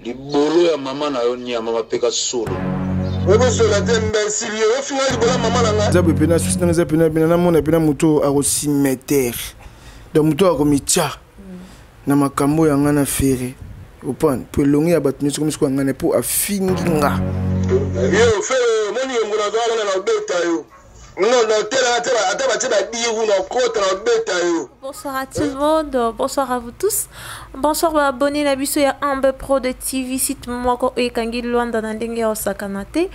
libolo ya mama na yo nyama mapeka solo okozwela te imbecile yo ofinga libolo ya mama na ngai eza boye pena susi nanga eza pena pena namona pena moto oyo akosimetere donc moto oyo akomitya na makambo ya ngai na fere opane mpo elongi ya bato nyonso komisuku ya ngai na mpo afingi nga yo fere omoni yongo nazalaka na nabeta yo Non, non, t'es là, t'es là, attends, bah, t'es là, dire ou non, quoi, t'es là, bête, yo. Bonsoir à tout le monde, bonsoir à vous tous. Bonsoir, bah, abonné, la biso, ya Ambe Pro de TV, site moko, et kangi luanda, na dengue, osakanate.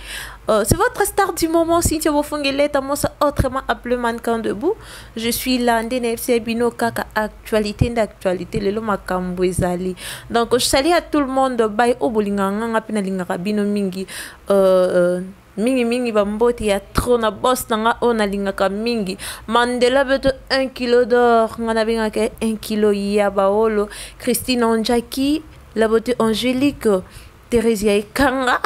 Euh, c'est votre star du moment, Cynthia Bofongeleta, moi, ça, autrement appelé mannequin debout. Je suis là, NDNFC, Bino, Kaka, actualité, d'actualité, le loma kambouezali. Donc, je salue à tout le monde, bye, obolinganga, pina lingara, bino mingi, euh, euh, mingi mingi ba mbote ya trop na boss na nga oyo nalingaka mingi mandela beto 1 kilo d'or nga nabengaka 1 kilo ya baolo christine onjaki la beauté angélique Theresia Ekanga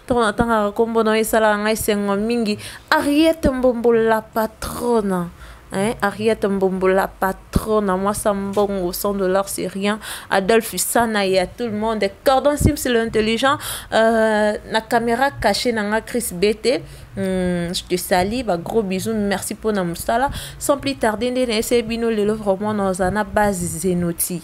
ntango natangaka nkombo na yo esalaka ngai esengo mingi Ariete Mbombo la patrona Hein, Ariette Mbombo, la patronne, à moi ça mbongo, 100 dollars c'est rien. Adolphe Sana et à tout le monde. Cordon Sim, c'est l'intelligent. Euh, la caméra cachée, nanga Chris BT. Hmm, je te salue, bah, gros bisous, merci pour na moussala. Sans plus tarder, c'est Bino Lelo, vraiment, dans un base Zenoti.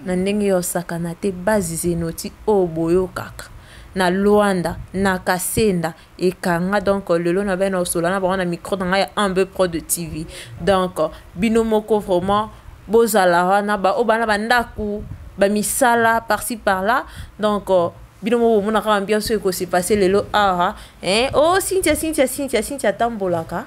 Na ndenge yo sakana te base Zenoti, oh boyo kaka. Na Luanda, na Kasenda, ekanga donc lelo na bana osola na bango na micro na ngai ya ambe pro de tv donc bino moko vraiment bozala wana baoyo bana bandako bamisala parci par là donc bino moko bomonaka ambiance oyo ekosepase lelo awa eh, o oh, sintia sintia sintia sintia atambolaka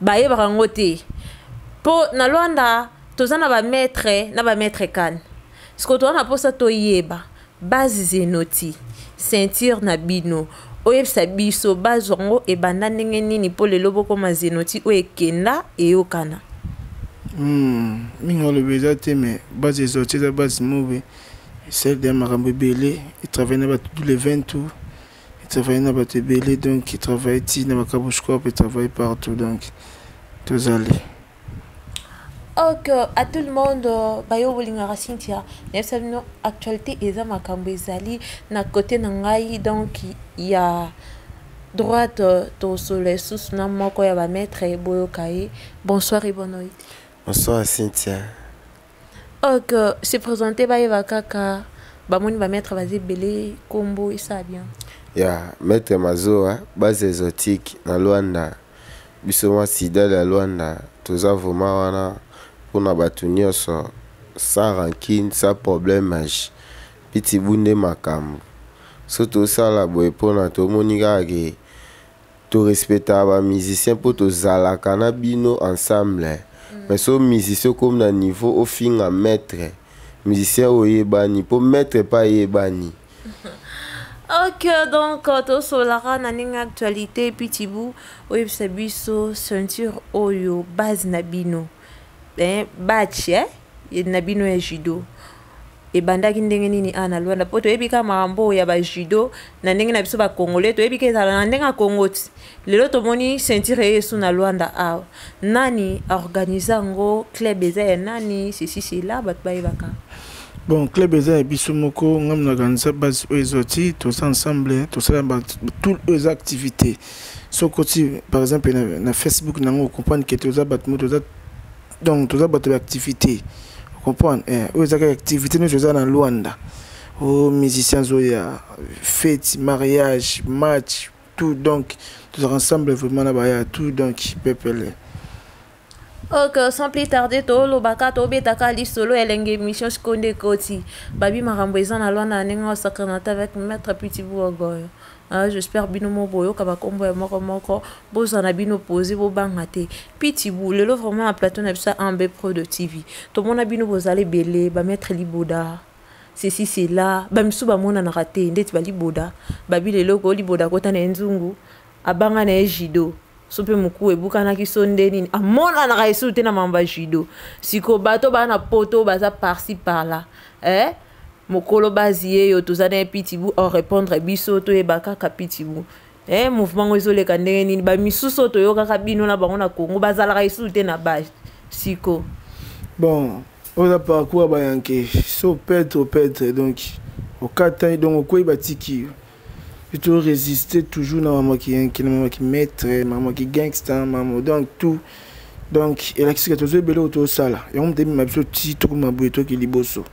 bayebaka yango te mpo na lwanda toza na bamaitre na bamaitre kane sikoyo toza na mposa toyeba base zenoti ceinture na bino oyebisa biso base yango ebanda ndenge nini mpo lelo bokoma zenoti oyo ekenda eyokana hmm, mingi olobi eza te me base ezoti eza base move esali ya makambo ebele etravaille na bato dule 20 tour e travaille na bato ebele donc e travaille ti na bakabush corp e travaille partout donc tozali ok à tout le monde euh, bayo bolingaka cynthia nayebisa bino actualité eza makambo ezali na côté na ngai donc ya droite euh, tosolo esusu na moko ya bamaître boyoka ye bonsoir et bonne nuit bonsoir cynthia ok se présente bayeba kaka bamoni bametre baza ebele kombo esa bien ya maître mazoa base exotique na luanda biso mwa sida ya luanda toza vrema wana mpona bato nyonso sans rankine sans problème age pitibu nde makambo so tosala boye mpona tomoni kaka ke to respectaka ba musicien mpo tozalaka na bino ensemble mm. mais so musicien okomi na niveau ofinga maître musicien oyebani mpo maître mpe ayebani ok donc euh, tosolaka na ndenge actualité epuis tibu oyebisa biso ceinture oyo base na bino eh, batch eh, na bino ya judo ebandaki ndenge nini awa na lwanda mpo toyebi kaka makambo oyo ya bajudo na ndenge na biso bacongolais toyebi ka ezala na ndenge ya congo ti lelo tomoni ceinture eye esu na lwanda awa nani aorganize yango club eza ya nani ceci cela bato bayebaka bon club eza ya biso moko ngai monakanisa base oyo ezwa ti toza ensemble tosala tout oyo eza activité soki okoti par exemple na, na facebook nango okomprendre ke toza bato mo toza donc toza bato ya activité comprendre eh, oyo ezaka activité nyonso eza na luanda o oh, musicien azoya fete mariage match tout donc tozalaka ensemble vraiment na baya tout donc pepele ok sans plus tarder tolobaka tobetaka lisolo ya elenge émission sikoyo nde ekoti babi makambo eza na lwana na ndenge osakana te avec maître pitibouogoyo Hein, j'espère bino mo boyoka ba kombo ya moko moko boza na bino poser bo banga te pitibou lelo vraiment na plateau na biso ambe pro de tv tomona bino bozali belé ba maître liboda ceci cela ba misu ba mona na raté ndeti ba liboda ba bilelo ko liboda kota na nzungu abanga na judo so mpe mokuwa ebukanaki so nde nini amonanaka esu te na mambo ya judo siko bato baa na poto baza parci parla eh? mokolo bazi ye yo toza na ye pitibu orepondre biso toyeba kaka pitibu eh, mouvement ngo ezoleka ndenge nini bamisusu oyo toyokaka bino na bango na congo bazalaka esusu te na base siko bon oza parcours bayanke so petre petre donc okatani donc okwei batiki yo to résister toujours na maman qui qui na maman qui maître maman qui gangster maman donc tout donc elakisi ke tozo ebele oyo tosala yango moto ebima biso ti tokoma boye toki liboso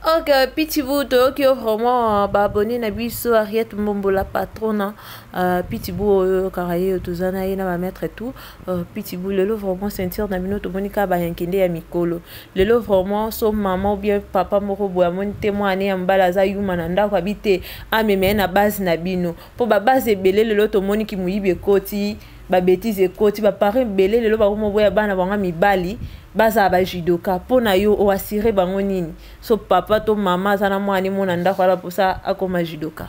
ok pitibu toyoki yo vraiment baabonne na biso ariete mbombola patrona uh, pitibu oyo oyokaka ye toza na ye na bamaître tout Euh, pitbull lelo vraiment ceinture na bino tomoni kaka bayankende ya mikolo lelo vraiment so mama obien papa moko boye amoni te mwana ya mobali aza yuma na ndako abi te amema ye na base na bino mpo babase ebele lelo tomoni kimoyibi ekoti babetize ekoti baparent ebele lelo bakomoboya bana bango mibali bazala bajudoka mpo na yo oasire bango nini so papa to mama aza na mwana ye mona ndako ala mposa akoma judoka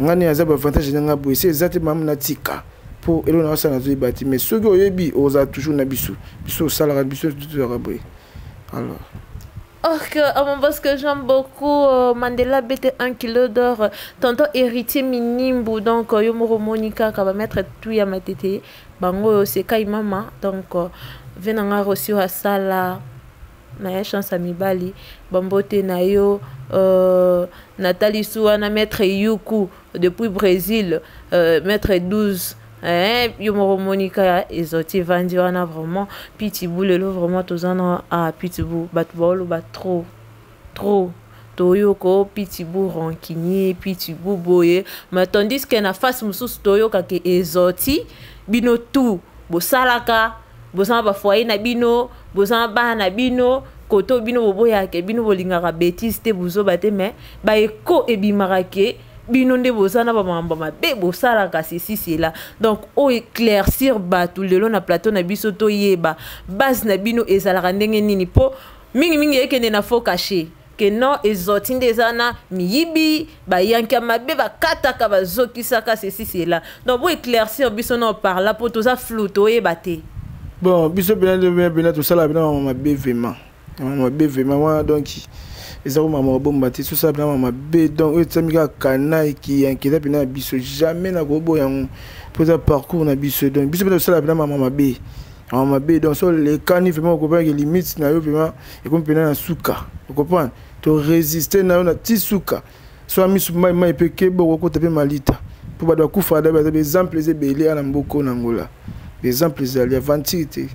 nga nini aza baavantage na nga boye se eza te mama natika mpo eloko nanga sala nazoyeba te mais soki oyebi ozala toujours na biso biso osalaka biso tozalaka boye alors Ok, oh, parce que j'aime beaucoup euh, Mandela bête 1 kilo d'or, tonton héritier minimbu, donc euh, yomoro monica, qui va mettre tout ya ma tete, bango c'est kai mama, donc euh, venanga reçu à sala. na ya chance ya mibali bambote na yo euh, natali su wana maître yuku depuis brésil euh, maître 12 eh, yo moko monika ezoti vandi wana vraiment pitibou lelo vraiment toza na ah, pitibou bato baoloba trop trop toyoka pitibou rancunier pitibou boye mais tandis que na face mosusu toyoka ke ezoti bino tout bosalaka boza na bafoye na bino boza na bana na bino koto bino boboyake bino bolingaka betise te buzoba te me baeko ebimaka ke bino nde boza na bamambo mabe bosalaka ceci cela donc oyo éclaircir bato lelo na plateau na biso toyeba base na bino ezalaka ndenge nini mpo mingimingi ekende na faux cachet que non ezoti nde eza na miyibi bayanki ya mabe bakataka bazokisaka ceci cela donc bo éclaircir biso na oparla mpo toza flou toyeba te bon biso mpena nde mpena tosalaka mpena mama mabe vraiment mama mabe vraiment wana donc eza ko mama kobomba te sosala mpena mama mabe donc oyo etyami kaka kana ekiyanki eza mpena ya biso jamais nakoboya yango mpo eza parcours na biso donc biso mpena tosalaka mpena mama mabe mama mabe donc so olekani vraiment okobaki limite na yo vraiment ekomi mpena na suka okomprendre toresiste na yo na ti suka soa misu mai mai mpe keba okokota mpe malita mpo bato bakufa adabi adabi exemple eza ebele ana mboko na ngola exemple ezali aventure te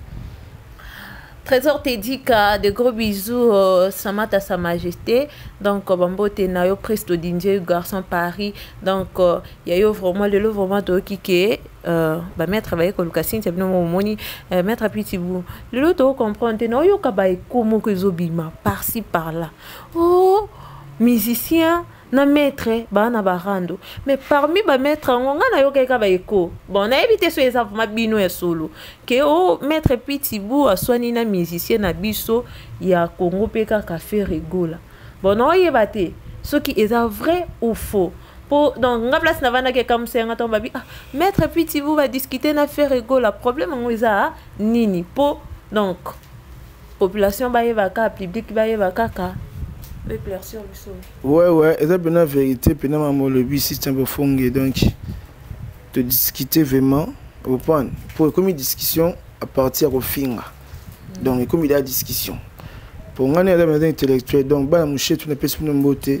Trésor Tedika, de gros bisous, euh, Samata Sa Majesté. Donc, euh, Bambo Tenayo, Presto Dindje, Garçon Paris. Donc, il euh, y a eu vraiment, le lot vraiment, qui est Euh, ba maître baye koluka cynthia bino moko omoni euh, maître apitibu lelo tokocomprendre te na oyoka baeko moko ezobima parci par là o oh, musicien na maître baa na barando mais parmi bamaître yango ngai nayokaki ka baeko bon nayebi te so eza vraimen bino ya solo ke o oh, maître pitibu aswani na musicien na biso ya congo mpe kaka fe regola bon naoyeba te soki eza vrai ou faux po donc nga place na vandaki ekamusa yanga ntango babi ah, maître pitibu badiscute na faire egola problème yango eza nini po donc population bayeba kaka public bayeba kaka éclaircir biso ouais ouais eza mpena vérité mpena mama olobi système bofonge donc todiscute vraiment opane po ekomi discussion à partir ya kofinga mm. donc ekomi da discussion po ngai nde eza mpena intellectuel donc bana moshetu napesi bino mbote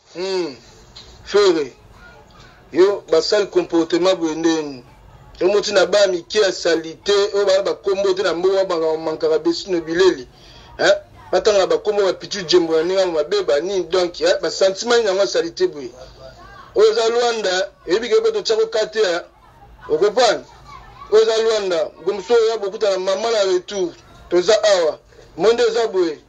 Hum, Ferre, yo basali comportement boye ndeni omoti na bana mike ya salite oyo bana bakombo te na mboka makambo mankaka besino bileli eh? batangaka bakombo bapitu jembo na ndenge mabe banini donk eh? basantima nini yango ya salite boye oyo eza lwanda eyebi ke mpe totyako kate ya eh? okoprane oyo eza lwanda gomso oyo ya bokuta na mama na retour toza awa monde eza boye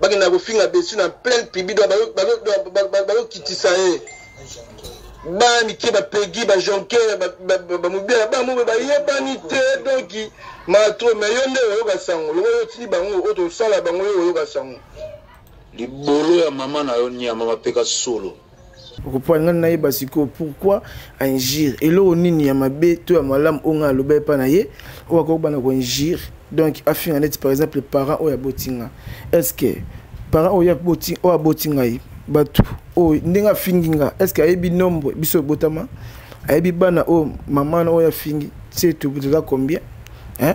bakenda kofinga besi na pleine public bazokitisa ye bana mike bapegi bajonker bamobila bango mpe bayebani te donk mato me yo nde oyoka sango lokola otili bango oyo tosala bango yo oyoka sango libolo ya mama na yo nyama mapeka solo okopoalinga nayeba sikoyo pourquoi injure eloko nini ya mabe to ya malamu oyo ngai aloba epa na ye oyo akokobana koinjure donc afinga neti par exemple parent oyo aboti nga est ce que parent oyo aboti ngai bato oyo ndenge afingi nga est ce que ayebi nombre biso ebotama ayebi bana oyo mama na oyo afingi se toza combien hein?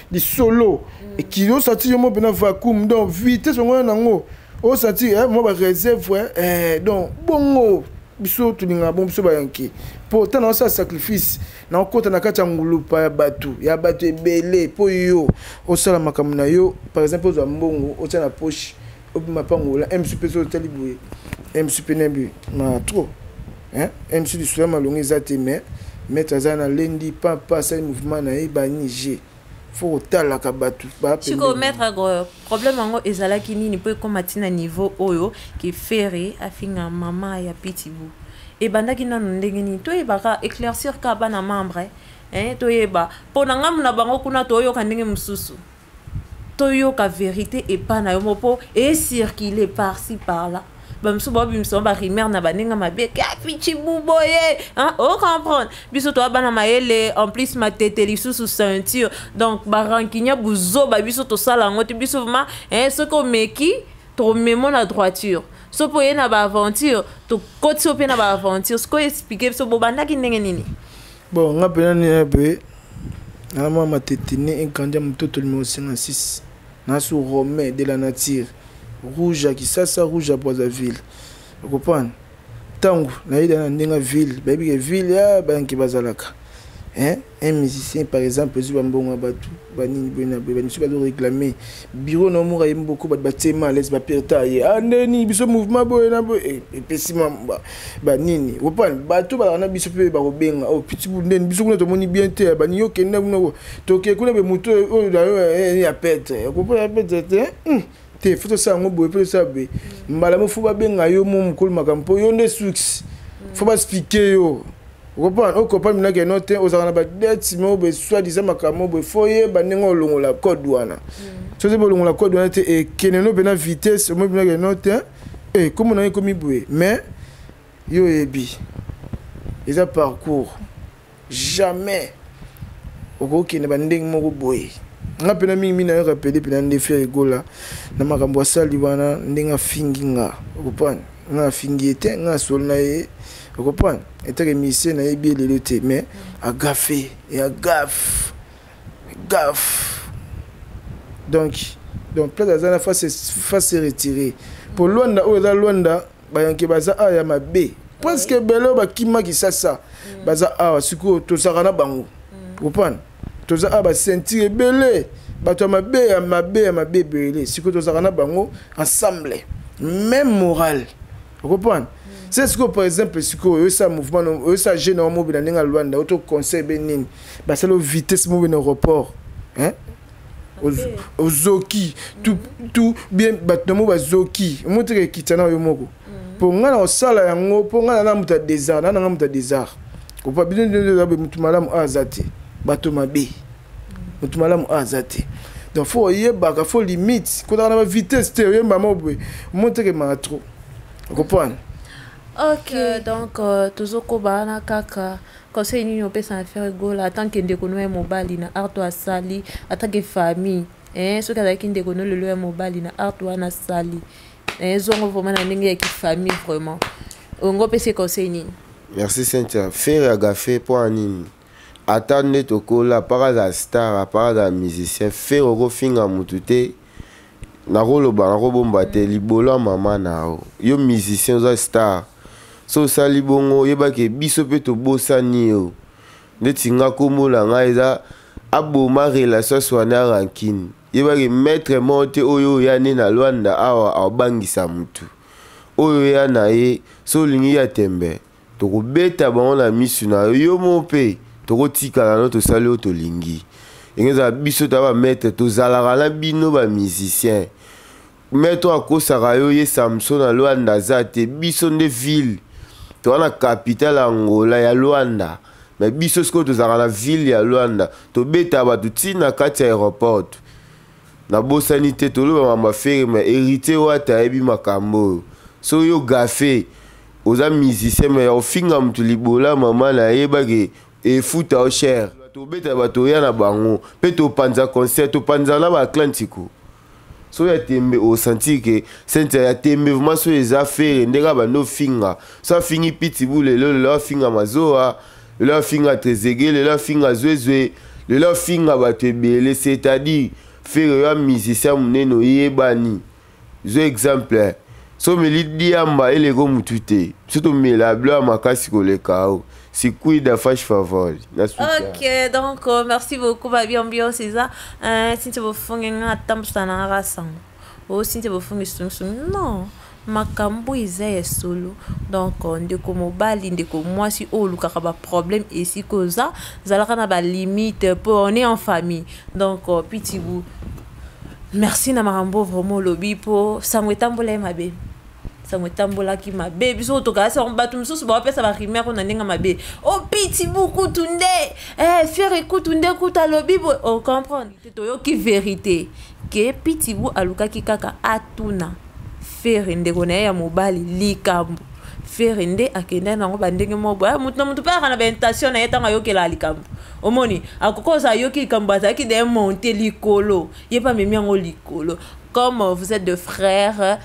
lisolo ekili osati yo mo mpena vacuum donc vitesse yango wana nango osati eh, mwa bareserve eh, eh, donc bongo biso tolinga bon biso bayanke mpo ntango naosala sacrifice naokota na kati ya ngulupa ya bato ya bato ebele mpo yo osala makambo na yo par exemple ozwa mbongo otya na poche obima pangola mc mpe soki otali boye mc mpe na boye ma trop mc lisolo ya malonga eza te mais maître aza na lendi pampa asali mouvement na ye banige fo kotalaka bato sikoyo maître ago problème yango ezalaki nini mpo ekoma ntina niveau oyo ke ferre afinga mama ya pitibou ebandaki nano ndenge nini toyebaka éclaircir ka bana membre eh, toyeba mpo na ngambo na bango kuna toyoka ndenge mosusu toyoka verite epa na yo moko mpo ecircule parci par là bamisusu baobimisa ba rumeur na baninga mabe kapichi buboye ocomprendre biso toya bana mayele en plus matete lisusu ceinture donc barankinia buzoba biso tosala yango te biso vraimen eh, soki omeki tomemo na droiture so mpo oye na baaventure tokoti yo mpe na baaventure sikoyo explike biso bobandaki ndenge nini Bon, nga pena ni un peu. Na mwa matete ne enkanja mutoto numéro 56. Na su Romain de la nature. Rouge à Kisasa, rouge à Brazzaville. Vous comprenez? Tango na yeda na ndenga ville, ba yebike ville ya banki bazalaka. Hein? Un musicien par exemple, ezuba mbongo ya batu, ba nini boye na boye, ba misusu ba zo réclamer bureau na omura ye mboko bato batie ma alaise baperta ye a ah, ndeni biso mouvement boye na boye eh, epesi ma banini opani bato balaka na biso mpe bakobenga o oh, pitibul ndeni biso kuna tomoni bien te eh, bani yo kenda kuna toke kuna be moto oyo na yo eh, ya petre okopona ya petre te hmm. te fo tosala yango boye mpe tosala boye mbala mo fo babenga yo mo mokolo makambo mpo yo nde suks fo basplike yo okompana okopa minaki yango te ozalaka na badeti moko boye swadisa makambo boye fo oyeba ndenge olongola code wana hmm. soki bolongola code wana te ekende no mpena vitesse omoi minaki yango te ekomo eh, na yo ekomi boye mais yo oyebi eza parcours jamais okokende bandenge moko boye nga mpena mingi mingi nayo rapele mpena nde fere egola na makambo asali wana ndenge afingi nga okopana nga afingi ye te nga asolo na ye okomprendre etake misie nayebi ye lelo te mais agafe ya gaf gaf donc donc place aza na face se retire mpo lwanda oyo eza lwanda bayanke baza awa ya mabe presque ebele oyo bakimaki sasa baza awa sikoyo tozalaka na bango mm. okomprendre toza awa basentire ebele bato ya mabe ya mabe ya mabe ebele sikoyo tozalaka na bango ensemble même morale okoprendre se sikoyo par exemple sikoyo oyesa mouvement oyesa jeune yango mobina ndenge ya lwanda oto conseil be nini basala vitesse mobe na aéroport ozoki tu bien bato na mo bazoki omoteka ekitana yo moko mpo ngai nakosala yango mpo ngai nana moto ya desart nana ngai moto ya desart kopa bino niobe motu malamu oyo aza te bato mabe motu malamu oyo aza te donc fo oyebaka fo limite kotaka na bavitesse te oyemba moko boye omotekemaka trop okoprendre ok euh, donc euh, tozokoba wana kaka conseil nini opesa na ferre gola atanke ndeko no ya mobali na arto asali atanke famille eh, soki azalaki ndeko no lelo ya mobali na arto wana asali eh, zongo vraiment na ndenge ya kifamille vraiment ongo opesi conseil nini merci cynthia fere agafe mpo ya nini ata nde tokola apaka aza star apaka aza musicien fere okofinga motu te nakoloba nakobomba te libolo ya mama na yo yo musicien oza star so osali bongo oyebaki biso mpe tobosani yo ndeti nga nkombo na ngai eza aboma relation aswana rankine yebaki maître moko te oyo oya nde na lwanda awa abangisa motu oyo ya na ye so olingi ya tembe tokobeta bango na misu na yo yo moko mpe tokotikala no tosali oyo tolingi ekozala biso ta bamaitre tozalaka na bino bamusicien mais to akosaka yo ye samson na luanda aza te biso nde ville toza na capitale ya angola ya luanda me biso sikoyo tozalaka na ville ya luanda tobeta bato ti na kati ya aéroport nabosani te toloba mambo ya fere me héritier wata ayebi makambo oyo soki yo gafe oza musicien me ya kofinga moto libola mama na yebaki efuta yo chere tobeta bato oya na bango mpe topanza concert topanzaka na baclan sikoyo soki ya tembe osentir ke sente ya tembe vraimen soki eza fere ndenge abandi ofinga so afingi pitibu lelo lelo afinga mazoa lelo afinga trezege lelo afinga zwezwe lelo afinga bato ebele c'est-à-dire fere yo amusicien monene oyebani zo exemple so omeli diamba eleko motu te biso tomela blo ya makasi koleka o se cuida, faz favor. Ok, donc euh, merci beaucoup, Babi Ambiance. Isa, euh, si tu veux faire un temps, tu as un rassang. Ou si tu veux faire un sung sung. Non. makambo eza ya solo donc euh, ndeko mobali ndeko mwasi oyo olukaka baproblème esika oza zalaka na balimite po on est en famille donc euh, pitibu merci na makambo vraiment olobi po sango etambola ye mabe sango etambolaki mabe biso oyo tokalasi yango bato mosusu baopesa barumeur oyo na ndenge mabe o oh, piti bukutu nde eh, fiere kutu nde kutu alobi boye ocomprendre oh, toyoki verité ke pitibu alukaki kaka atuna fere ndeko na ye ya mobali likambo fere nde akendaki nango bandenge moko boye moto na moto mpe ayaka na baintention na ye ntango ayokelaka likambo omoni akoki oza ayoki likambo azalaki de monte likolo ye mpe amemi yango likolo comme vous êtes de frère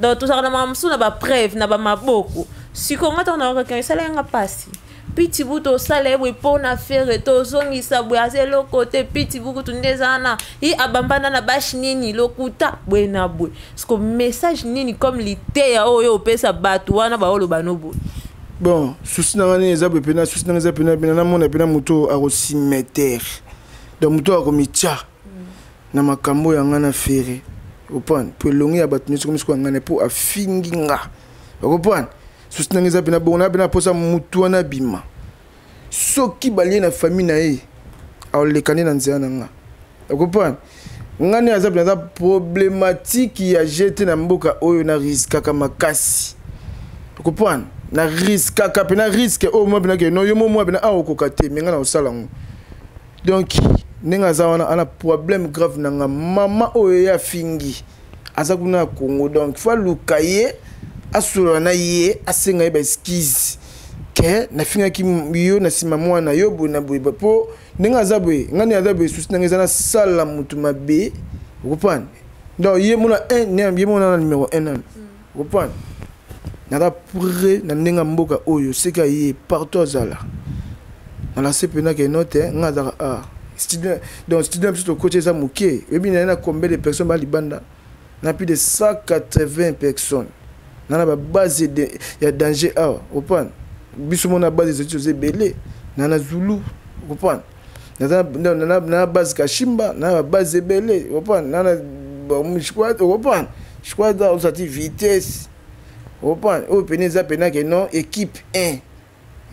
donc tozalaka na makambo mosusu na bapreuve na bamaboko sikoyo nga ntango naokaki esala yanga mpasi piti butu osala ye boye mpo na fere tozongisa boye aza eloko te piti bukutu nde eza wana ye abambana na bashe nini lokuta boye na boye siko message nini comme liteya oyo opesa bato wana baoloba no boye bon susi na nga nini eza boye mpena susi na nga eza mpena mpena namona mpena moto akosimetere donc moto akomitya na makambo ya nga na ferre opane mpo elongi ya bato nyonso komisikoya ngai na mpo afingi nga okopane susi nanga eza pena bongo na pena mposa motu wana abima soki balie na famille na ye aolekani na nzela na nga okopane nga nde aza mpenza problematike ya jete na mboka oyo na riskaka makasi okopane na riskaka mpe na riske oyo mwa mpenakeno yo mo mwa mpena aokoka te me nga na kosala yango donc ndenge aza wana ana problème grave na nga mama oyo ye afingi aza kuna na congo donc fo aluka ye asolola na ye asenga ye baeskize ke nafingaki yo na nsima mwana yo boye na boye mpo ndenge aza boye ngai ndenge aza boye susi ndenge eza nasala motu mabe okopana donc ye mona ye mona na numero 1 nano Comprendre? Naza près na ndenge ya mboka oyo seke aye partout azala. Na la se pena ke note eh, nga azaka ah. Studio donc studio biso to coach eza moke. Oyebi na na combien de personnes ba libanda? Na plus de 180 personnes. Na na ba base de ya danger awa. Comprendre? Biso mona base ezo ebele. Na na Zulu. Comprendre? naza na base kashimba na ba base ebele opan na squad opan squad ozati vitesse opan oyo pene eza pena ke non équipe 1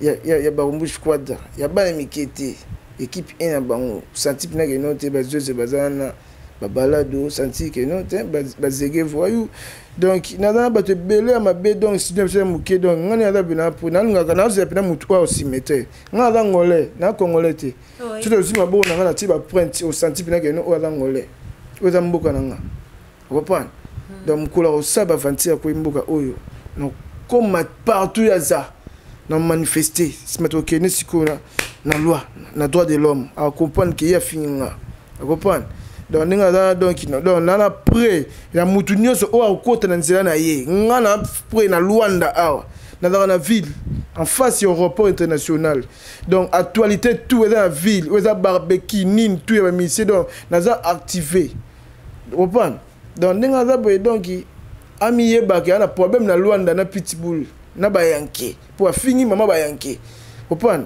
ya, ya, ya barumbu squad ya bana mike te équipe 1 ya bango santi pena ke non te bazoze baza wana babalado santi ke non te bazege voyou donc naza na bato ebele ya mabe donc studio biso ya moke donc ngani aza pena mpo nalingaka nazela pena motu oyo osimete nga aza ngolais na congolais te soki ozwi maboko na nga natie baprinte osanti mpena keno oyo aza ngolais oyo eza mboka na nga okoprendre hmm. donc mokolo akosala bavanti ya koyi mboka oyo nakoma partout ya za na manifeste nsima tokende sikoyo na loi na droit de l'homme akoprendre ke ye afingi nga akoprendre donc ndenge aza donki donc na na près ya motu nyonso oyo akokota na nzela na ye nga na près na lwanda awa nazalaka na ville en face ya aéroport international donc actualité tout eza na ville oyo eza barbeki nini tout ya bamisie donc naza activé opana donc ndenge aza boye donc amiyebaka ya na problème na lwanda na pitbull na bayanke mpo afingi mama bayanke opana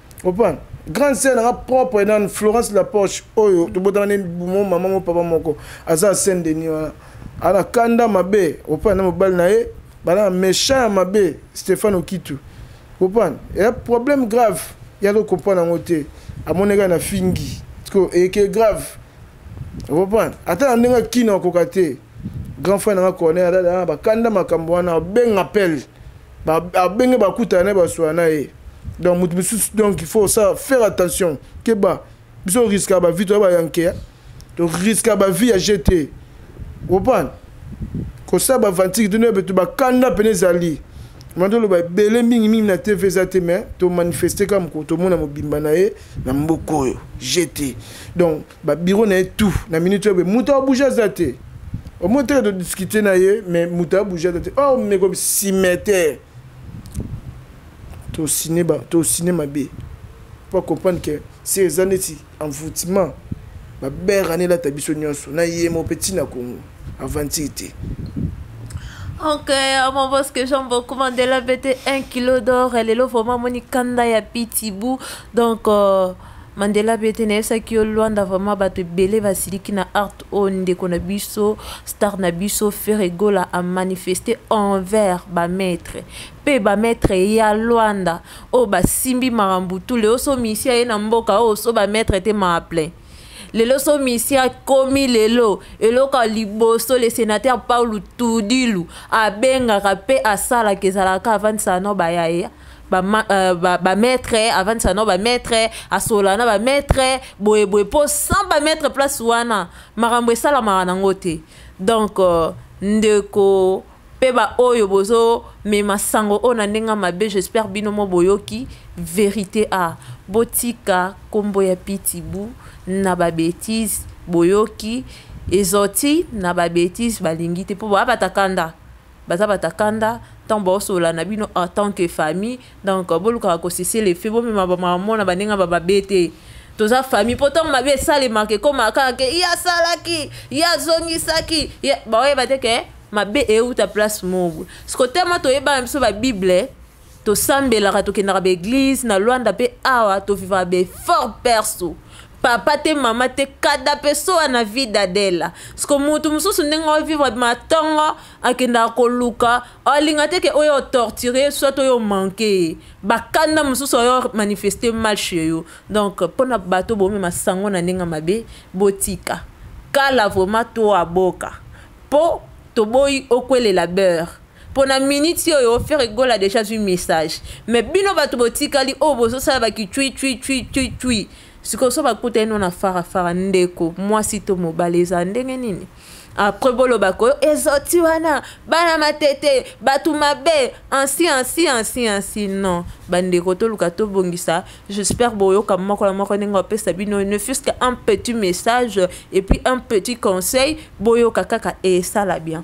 Opa, grande sœur nanga propre nani Florence Lapoche oyo tobotana ne bumo mama mo papa moko aza Saint Denis wana ala kanda mabe opa na mobali na ye bana méchant ya mabe Stéphane Okitu opa ya problème grave ya ko comprendre yango te amoneka na fingi ko eke grave opa ata na ndenge kino akoka te grand frère nanga corner ala bakanda makambo wana obenga appel abenge bakutana na ye baswana na ye donc moto mosusu donc il faut osala faire attention keba biso oriska bavie toya bayankea toriska bavie ya gt opana kosala bavantiki tino bato bakanda mpene ezali mwana toloba ebele mingimingi na tv eza te mai tomanifeste kaka mokolo tomona mobimba na ye na mboka oyo gt donc ba bureau na ye tout na minute oyo moto abouge aza te omoni teke todiscute na ye mais moto abouge aza te or oh, meko simeter tosine tosine mabe mpo acomprendre ke si eza neti envoutiment babere ane elata biso nyonso na ye mo mpe ntina kongo aventure te Ok, mon boss que j'aime beaucoup Mandela BT 1 kilo d'or. Elle est là vraiment moni kanda ya pitibou. Donc euh, Mandela pe te nayebisaki yo Luanda vraiment bato ebele basiliki na art oyo ndeko na biso star na biso Ferre Gola a manifeste envers ba maître pe ba maître ya Luanda oyo basimbi makambo tu leo so misia ye na mboka oyo so ba maître te ma plein lelo so misia komi lelo eloko ya liboso le sénateur Paulo Tudilu abengaka pe asalaka ezalaka avandisaka no bayaye ba, euh, ba, ba maître avandisa na ba maître asola na ba maître boye boye mpo sans ba maître place wana makambo esalamaka nango te donc euh, ndeko mpe baoyo bozomema sango oyo na ndenge mabe j'espère bino mo boyoki verité a botika nkombo ya pitibu na babetise boyoki ezoti na babetise balingi te mpo babataka nda baza bata kanda ntango baosolola na bino en tant que famille donc bolukaka kosese lefe bomema bamamona baninga bamabe te toza famille mpo ntango mabe esalemaka ekomaka kaka ke ye asalaki ye azongisaki baoyeba te ke mabe euta place mobo sikotelema toyebana biso babible tosambelaka tokendaka baeglise na lwanda mpe awa tovivaka baeffort perso papa te mama te kada mpe soa na vida dela siko motu mosusu ndenge ovivre matongo akendaka koluka olinga te ke oyo otorture soit oyo omanke ye bakanda mosusu oyo manifeste mal chez yo donc mpo na bato bomema sango na ndenge mabe botika kala vraimen to aboka mpo toboyi okwelela beurre pona miniti oyo fere gola deja azwi message me bino bato botikali oyo oh, bozosala bakicwicwicwicwicwi sikoyo so bakuta eno na farafara ndeko mwasi to mobali ezala ndenge nini apres boloba koyo ezoti wana bana matete bato mabe ansi ansi ansi ansi non bandeko toluka tobongisa j'espère boyoka moko na moko ndenge bapesa bino ne fuse que un petit message et puis un petit conseil boyoka kaka esala bien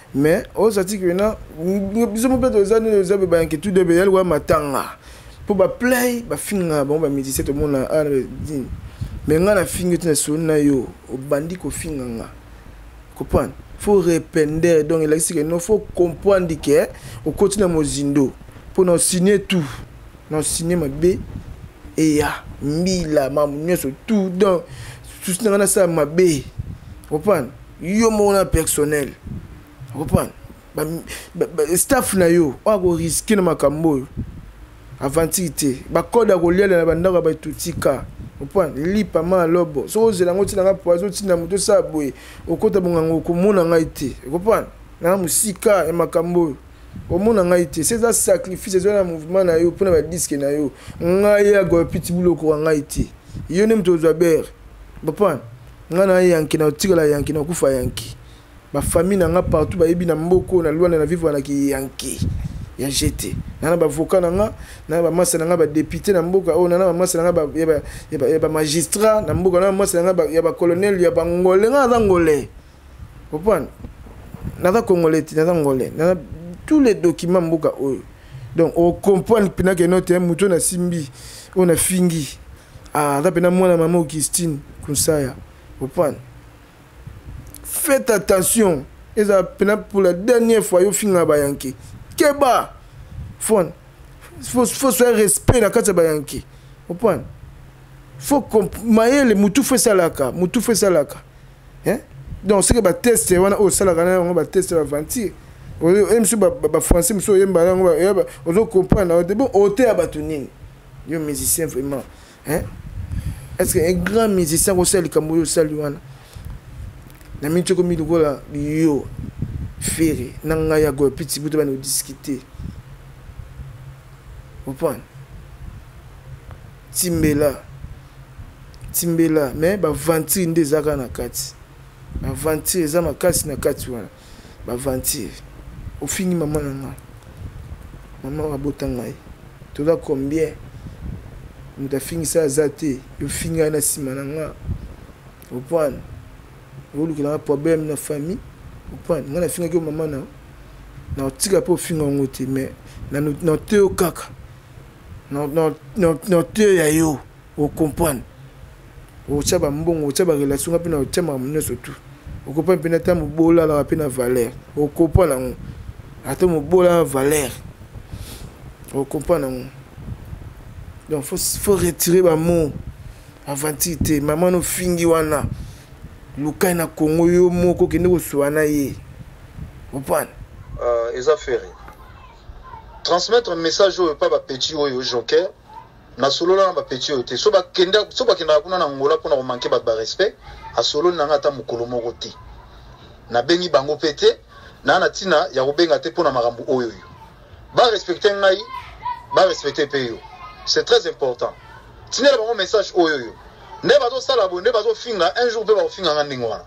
mais oza tiki wena biso mpe toza nini oza mpe bayanke tout de beyali wa matanga mpo baplay bafingaka bango bamédicien tomona ah, dine me ngai nafingi te na soni na yo obandi kofinga nga comprendre faut repender donc elakisi ke no faut comprendre ke okoti na mozindo mpo na osigne tout na osigne mabe eya mbila mamu nyonso tout donc susi na ngai nasala mabe comprendre yo moko na personnel comprendre ba, ba, ba, staff na yo oyo akoriske na makambo oyo aventure te bakode akoliala na bandako ya bato tika comprendre lipa ma lobo soki ozela yango otinanga poison otinda moto osala boye okota bonganga okomona ngai te comprendre na mosika ya makambo oyo omona ngai te se eza sacrifice ezwa na mouvement na yo mpo na badiske na yo ngai ya golpitibulu okoka ngai te yo nde moto ozwa bere comprendre nga na yanki na otikala yanki na kufa yanki ba famille na nga partout ba yebi na mboko na luanda na vivre na ki yanki ya jete na na ba avocat na nga na ba massa na nga ba député na mboka oh na na ba massa na nga ba ya ba ya ba, ya ba magistrat na mboka na massa na nga ba, ya ba colonel ya ba ngole nga na ngole comprendre na za congolais ti na za ngole na tous les documents mboka oyo donc o comprendre pina que note muto na simbi on a fingi Ah, aza mpena mwana mama augustine kunsaya opane faites attention ezala mpena pour la dernière fois yo finga bayanke keba fon faut soya respect na kati ya bayanke opane faut mayele mutu fo esalaka mutu fo esalaka eh? donc soki bateste wana oyo osalaka na yango bateste ya baventure oyo ye mosusu bafrançais mosusu oyemba na yango ozo comprendre na yo te bon oteya bato nini yo musicien vraiment hein est ce que un grand musicien akosala likambo oyo osali wana na minti okomi lokola yo fere na ngai ya goyo piti buta bana odiscute opane timbela timbela me baventure nde ezalaka na kati baventure eza makasi na kati wana ba aventure ofingi mama na nga mama oyo abota ngai toza combien moto afingisa aza te yofingi ngai na nsima na nga opwane olukela nga problème na famille opwane ngai nafingaki yo mama na na otika mpe ofinga yango te mais na oteyo kaka na oteyo ya yo o comprendre okotia bambongo okotia barelation nga mpe na otia makambo nyonso tu okompane mpe nata mobola alaka mpe na valeur okompane yango ata mobola na valeur okompane yango donc faut, faut retirer bamo aventure te mama nofingi wana lukai na congo yo moko okende kosuwa na ye opane uh, eza fere transmettre message oyo epa bapeti oyo joker nasolola na bapeti oyo te so bakendaka kuna na ngola mpona komanke bato barespect asololi na ngai ata mokolo moko te nabengi bango mpe te naa na ntina ya kobenga te mpona makambo oyo oyo barespecte ngai barespecte mpe yo c'est très important tindela bango message oyo oyo nde bazosala boye nde bazofinga un jour mpe bakofinga ngai ndenge wana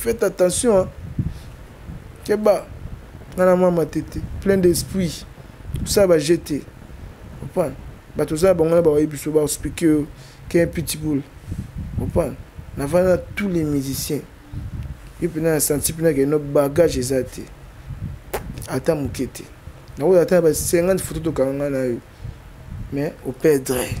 faites attention hein? keba nga na mama tete plein d'esprit osala baje te opana bato oza na bango na bawaye biso baexplike yo ken pitbull opana navanda na tous les musiciens yo mpena na santi mpena keno bagage eza te ata moke te nakoza ata na ba 50 foto tokanga nga na yo mais operdre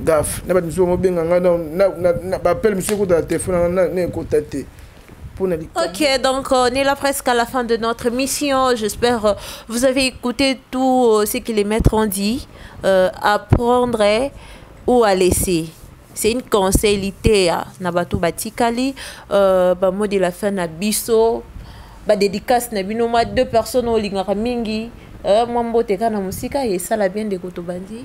gaf na bato mosusu bamobenga ngai na bapele mosusu ekota na telefone na ngai na ekota te Ok, donc on est là presque à la fin de notre mission. J'espère euh, vous avez écouté tout euh, ce que les maîtres ont dit. Euh, à prendre ou à laisser. C'est une conseillité à hein, Nabatou Batikali. Euh, bah, mot de la fin à Bisso. Bah, dédicace na bino deux personnes au lingara mingi. Euh, moi mbote kana musika et ça la bien de kotobandi.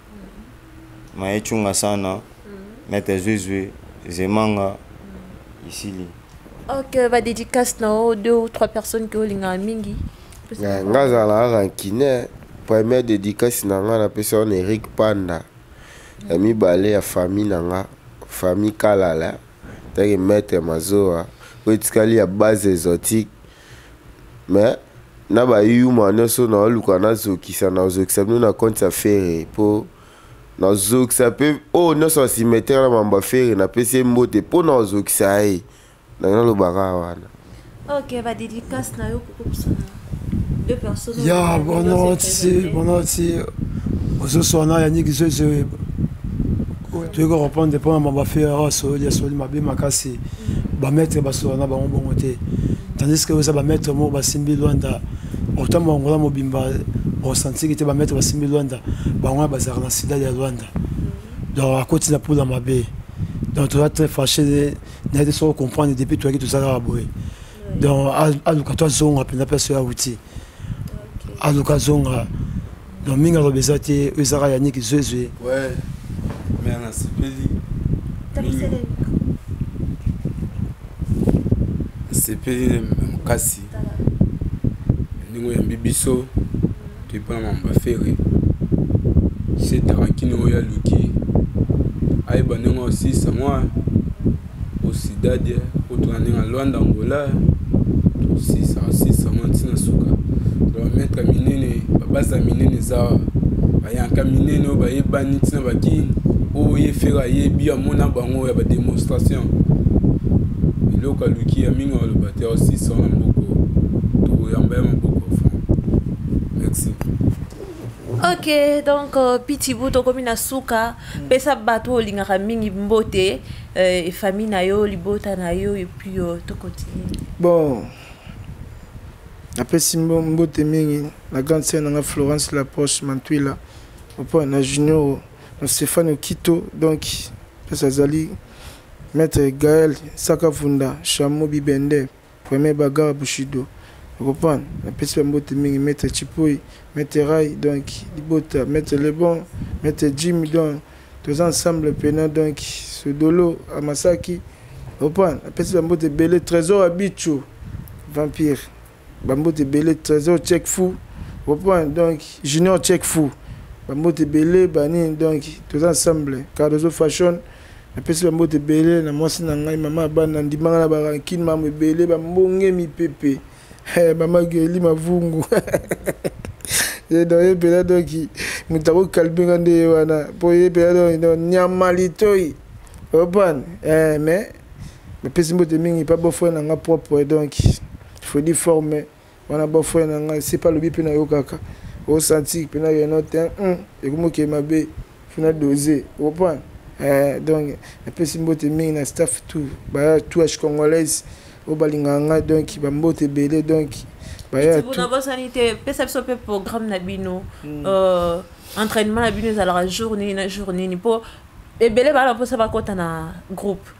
maye chunga sana mete zwizwi zemanga isili ok ba dédicace na o deux ou trois personnes ki olingaka mingi nga azala kaka nkine première dédicace na nga napesa wana eric panda ya mibale ya famille na nga famille kalala ntange maître mazoa oyo etikali ya base exotique mais na ba yuma nioso na luka na zokisa na zokisa bino na compte ya ferre po na zokisa pe o oh, nioso asimetre na mamba ferre na pesi mbote po na zokisa ye na na lobaka wana OK ba dédicace na yo koko kusana deux personnes ya bonoti bonoti ozosoa na yannick zozo toyei korepondre mpo na mamba ferre awa asoli asoli mabe makasi ba maître basola na bango bongo te tandis que oza ba maître moko basimbi luanda otambo angola mobimba osantiki te ba maître basimbi luanda bango wana bazalaka na sida ya luanda donc akoti na pula mabe donc toza très fâché naye te soko comprendre depuis toyaki tozalaka boye donc aluka to azonga mpenza place oyo awuti aluka azonga na mingi aloba eza te oyo ezaka yaniki zwezwe me nasepeli nasepeli makasi ndenge oyambi biso toyipona mamba fere setaka kino oyo aluki ayeba ndenge osisa mwa o cidade kotuna ndenge na luanda angola tosisa sisa ngo ntina suka bametre minene babasa minene eza bayanka minene oyo bayebani ntina bakini oyo ye fere ayebi amona bango ya bademonstration eloko aluki ya mingi aloba te osisa na mboko tokoyamba ya maboko ok donc euh, pitibu tokomi na suka mm. pesa bato oyo olingaka mingi mbote euh, famille na yo libota na yo epuis euh, tokontinue bon napesi mbote mingi na grande sere na nga florence lapoche mantwila opo na junior na stéphane okito donc mpesa azali maître gaël sakavunda chamo bibende Premier bagarre Bushido. Okopan, napesi ba mbote mingi, Maître Chipoi, Maître Rai, donc Libota, Maître Lebon, Maître Jimmy, donc toza ensemble pena, donc Sodolo, Amasaki. Okopan, napesi ba mbote ebele, Trésor Abicho, Vampire, ba mbote ebele, Trésor Check Fou, okopan, donc Junior Check Fou, ba mbote ebele, ba nini, donc toza ensemble, Cardozo Fashion, napesi bambote ebele na mwasi na ngai mama abana ndimanga na barankine mamo ebele bambonge mipepe eh, mama geli mavungu ye mpela doki moto akokalme nga nde ye wana mpo ye mpela doki nyama litoi opan eh, mais napesi mbote mingi mpa bofre na nga propre donc fredi forme wana bon frère na ngai sepe alobi mpe nayokaka osanti mpe na yeno te hmm, ekomi okei mabe fina dose okoprendre eh, donc napesi mbote mingi na staff tout baya touache congolaise oyo balingaka ngai donc bambote ebele donc baya nabosani te pesa biso mpe programme na bino hmm. euh, entraînement na bino ezalaka jour nini na jour nini mpo ebele bana mposa bakɔta na groupe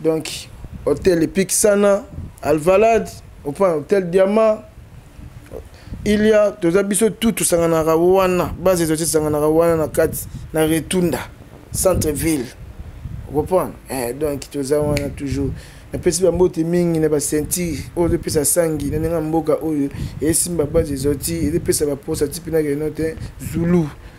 donc hotel epic sana alvalade enfin hotel diamant ilia toza biso tout tosanganaka wana base ezo tosanganaka wana na kati na retunda centre ville okomprendre eh, donc toza wana toujours napesi bambote mingi na basentire oyo ezopesa sangi na ndenge ya mboka oyo esimba base ezoti ezopesa baposa ti mpenakeno te zulu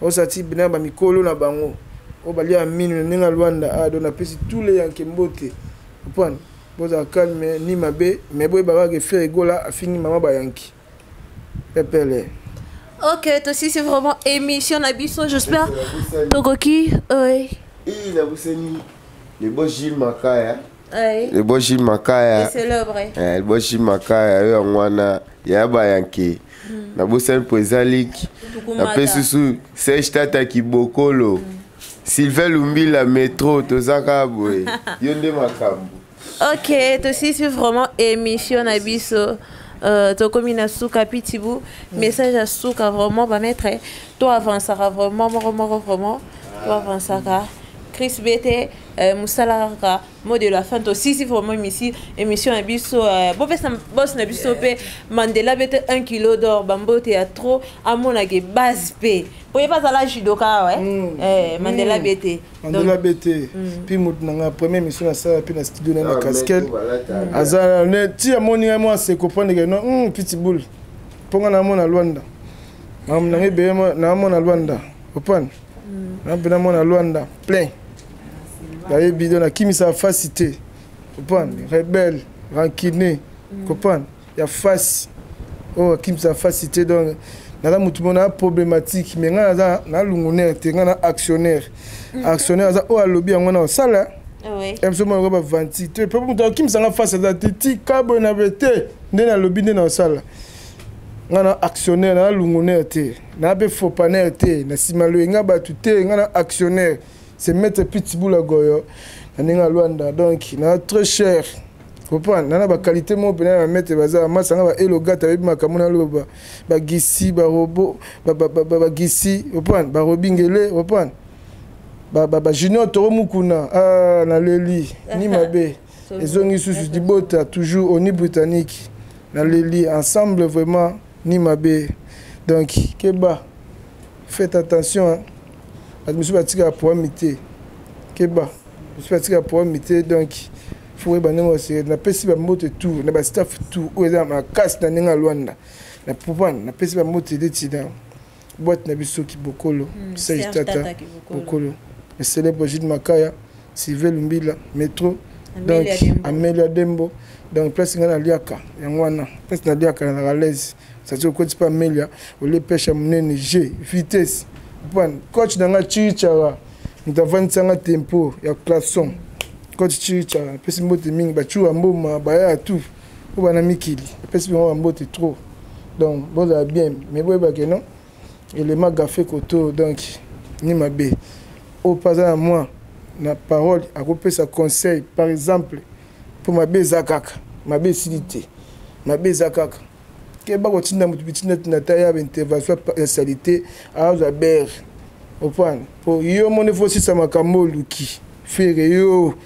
Osa ti bina ba mikolo na bango. Oyo balia ya minu na ndenge ya Luanda a ah, do na pesi tous les yanke mbote. Upon boza calme ni mabe mais boye baba ke Ferre Gola afingi mama ba yanki. Pepele. Ok, toi aussi c'est vraiment émission na biso, j'espère. Tokoki. Oui. Et la Boussani, le beau Gilles Makaya. liboshi makaya eh, liboshi makaya yo yango wana ya bayanke hmm. nabosani mpo eza liki nape susu serge tata kibokolo hmm. sylvain lumbila metro toza kaka boye yo nde makambo ok tosisi vraiment émission na biso Euh, tokomi na suka pitibu mm. message ya suka vraiment bamaître to avancaka vraiment moko moko vraiment to avancaka chris bete Euh, mosala kaka mot de la fin tosisi vraiment misi émission na biso euh, bopesa bos na biso mpe mandela bete 1 kilo d'or bambote ya trop amonake base mpe mpo ye bazala judoka we mm. eh, mandela mm. bete mandela bete mm. mpe moto na ngai premier émission nasala mpe na studio na na ah, casquette aza ti amoni ngai mwa seko mpo ndeke no pitibul mpo ngai namona lwanda makambo na ngai ebele namona lwanda opane na mpe na mwana lwanda plein nayebi do nakimisaka fasi te kopana rebelle rancune kopana ya fasi oyo akimisaka fasi te donc naza motu mona ya problématique mais ngai naza na lungunaire te ngai na actionnaire mm. actionnaire aza oyo alobi yango na osala biso mwana okoba vanti te mpe moto akimisa ngai fasi aza te tika boye na be te nde nalobi nde na osala ngai na actionnaire naza lungunaire te na be faux panel te na sima loyenga batu te nga na actionnaire c'est maître pitbull agoyo na ndenge ya luanda donc na très cher comprendre nana baqualité moko mpena na mete baza bamasa nga baelogate ayebi makambo naloba bagisi barobo bagisi comprendre barobingele comprendre bajunior toro mukuna ah, naleli ni mabe ezongi susu libota toujours oni britannique naleli ensemble vraiment ni mabe donc keba faites attention hein. bato mosusu batikaka poami te keba mosusu batikaka poami te donc fo oyeba ndenge osere napesi bambote tour na bastaff tour oyo eza na makasi na ndenge ya lwanda na propane napesi bambote detina boîte na biso kibokolo mm, serge tata bokolo le célèbre jude makaya sylvain lumbila métro donc amelia dembo donc place ngai naliaka yango wana place naliaka na ralaise sati okoti mpe amelia olie pesha monene g vitesse pan coach na ngai chirichara moto avandisa ngai tempo ya classon coach chirichara apesi mbote mingi bacuwa mboma baya ya tout po bana mikili epesi bango bambote trop donc bozala bien mais boyeba ke non elema gafe koto donc ni mabe oyo mpe aza na mwa na parole akopesa conseil par exemple mpo mabe eza kaka mabe esili te mabe eza kaka keba kotinda moto bitinda tina ta ya baintervention ya salite azwa bere opana mpo yo moni fosisa makambo oluki fere yo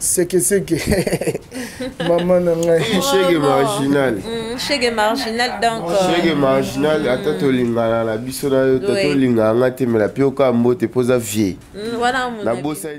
sekeseke mama na ngai shege marginal mm, shege marginal donc euh, shege marginal ata tolingana na biso na yo ta tolingana nga te mela mpe okaa mbote mpo oza vie mm, nabosani